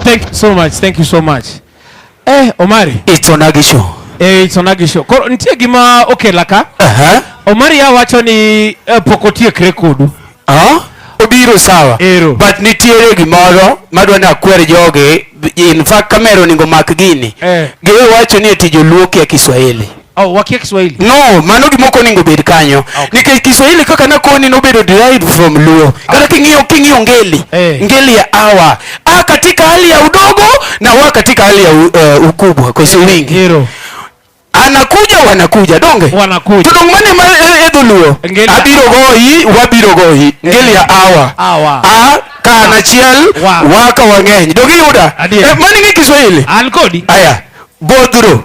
Thank you so much. Thank you so much. Eh, Omari. It's on Agisho. Eh, it's on Agisho. Koro nitie gima okela ka. Uh -huh. Omari ya wacho ni eh, pok otiek rekodu. Ah? Uh -huh. Obiro sawa. Ero. But nitiere gimoro madwa ni akwer jogi. In fact kamera oningo mak gini. Eh. Giwe wacho ni eti joluo kia Kiswahili. Oh, wakia Kiswahili. No, mano gima ok onego bed kanyo. Ah, okay. Nikech Kiswahili kaka nakoni nobedo derived from Luo. Ah. Kata okay. King'iyo king'iyo ngeli. Hey. Eh. Ngeli ya awa. A katika hali ya udogo na wa katika hali ya uh, ukubwa kwa sababu wingi. Hero. Anakuja wanakuja donge. Wanakuja. Tudongmane ma eh, edo Luo. Abiro goyi, wabiro goyi. Ngeli ya awa. Awa. A kana chiel wow. waka wang'eny. Donge yuda. Eh, mani ngi Kiswahili. An kodi. Aya. Bodro.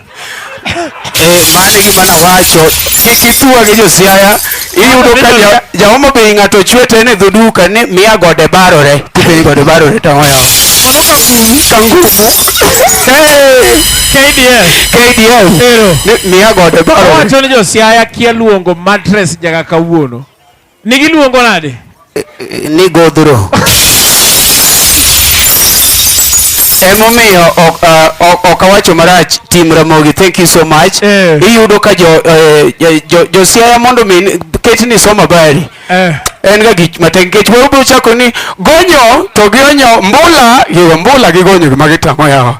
Eh, mano e gima nawacho kik ithua gi josiaya iyudo ka ja- jaomo bei ng'ato ochwe to en e dhoduka ni miya gode barore tipeni gode barore to ang'o yawa kdf Ni miya gode barore Owacho ni josiaya kia luongo mattress nyaka kawuono. Ni giluongo nade? Ni godhro. Emomiyo ok uh, ok awacho marach Tim Ramogi thank you so much. Eh. Iyudo ka jo eh, jo- jo- jo Siaya mondo mi ket ni somo habari. Eh. En ga gik matek nikech moro biro chako ni gonyo to gionyo mbula, yo mbula gi gonyo gima gitamo yawa.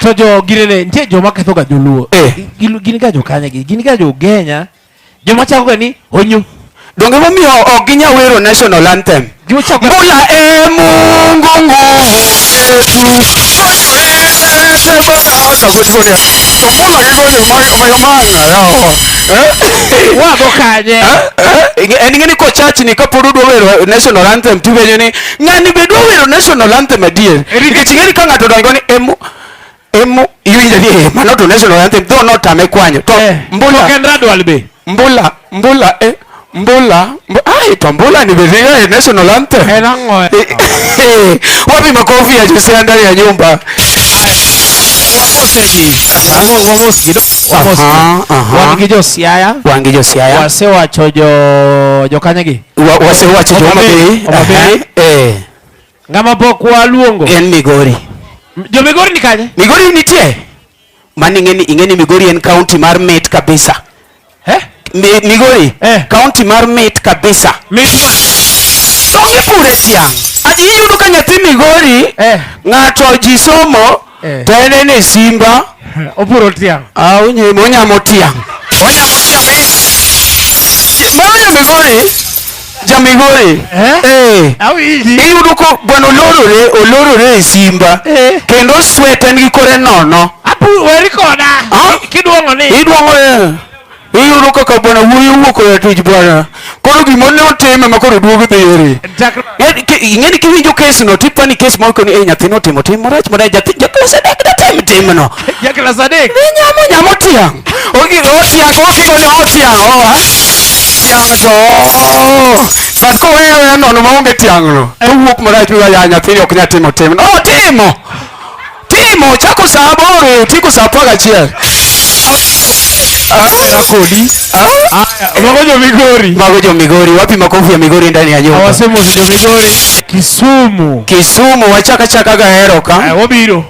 to jo girene nitie joma ketho ga joluo eh. gin ga jokanya gi gin ga jogenya joma chako ga ni onyu donge momiyo ok ginya wero national anthem mbula e mungu nguvu wago kanye eh, eh, en ng'eni kochachni kapod udwa wero national anthem tupenyo ni ng'ani be dwa wero national anthem adier nikech ing'eni ka ng'ato dongo ni emu emu iwinjo ni eh, mano to national anthem dho notame kwanyo to eh, mbula to kendra dwal be mbula mbula eh mbula mb ai to mbula ni be dhiga eh, national anthem eh nango eh wapi makofi ya Jose ndani ya nyumba wangi josiaya wangi josiaya wasewacho jo jokanyagi Wa- wasewacho jo Homa Bay. Homa Aha. Bay. Eh, ng'ama pok waluongo en migori jo migori ni kanye migori nitie mani ing'eni ing'eni migori en kaunti mar mit kabisa Eh? Mi- migori Eh. kaunti mar mit kabisa Mit ma- to gipure tiang' aji iyudo ka nyathi migori Eh. ng'ato ji somo Eh. to en en e simba Oburo tiang'. ah, onye- onyamo tiang' Onyamo tiang' ahinya. mano jamigori jamigori Eh? Eh. Awinji. iyudo ko gweno olorore olorore e simba Eh. kendo swete nigi kore nono Apu weri koda. Ah. Kiduong'o ni. idwong'o Iyudo kaka bwana wuoyi owuok oya tich bwana. Koro gima ne otime ma koro duogo dhi eri. Ing'eni kiwinjo kes no to ipani kes ma okoni eh nyathino otimo tim marach mana nyathi jaklas adek datim tim no. Jaklas adek. Ni nyamo nyamo tiang'. Ogi otiang' ogigo ni otiang' oa. Tiang' to. But koweyo ya nono maonge tiang' no. Owuok marach mi ya nyathini ok nyatimo tim. Otimo. timo chako sa aboro tieko sa apar gachiel Aya kodi. Aya, mago jo Migori. mago jo migori wapi makofi ya migori ndani ya nyumba Awasemo jo Migori. Kisumu. kisumu wachaka chaka gahero Aya, ka wabiro.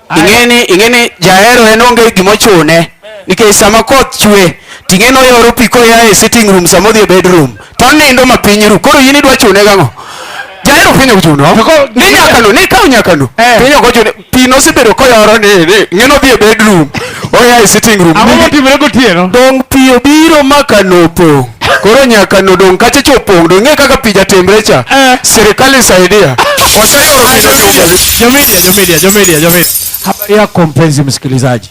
Aya, ing'eni ing'eni jahero en onge gimochune nikech sama koth chwe ting'eni oyoro pi koya e sitting room sama odhi e bedroom to onindo ma piny ru koro in idwa chune gang'o jahero piny ok chuno ni nyakano ni kaw nyakano eh. piny ok ochune pi nosebedo koyoro ni ng'eno dhi e bedroom oya e sitting room ang'o motimore gotieno dong' pi obiro ma kano opong' koro nyaka nodong' kacha cha opong' dong' ng'e kaka pi jatemre cha eh. sirikal isaidia waseyoro pi jomedia jomedia jomedia jomedia habari yako mpenzi msikilizaji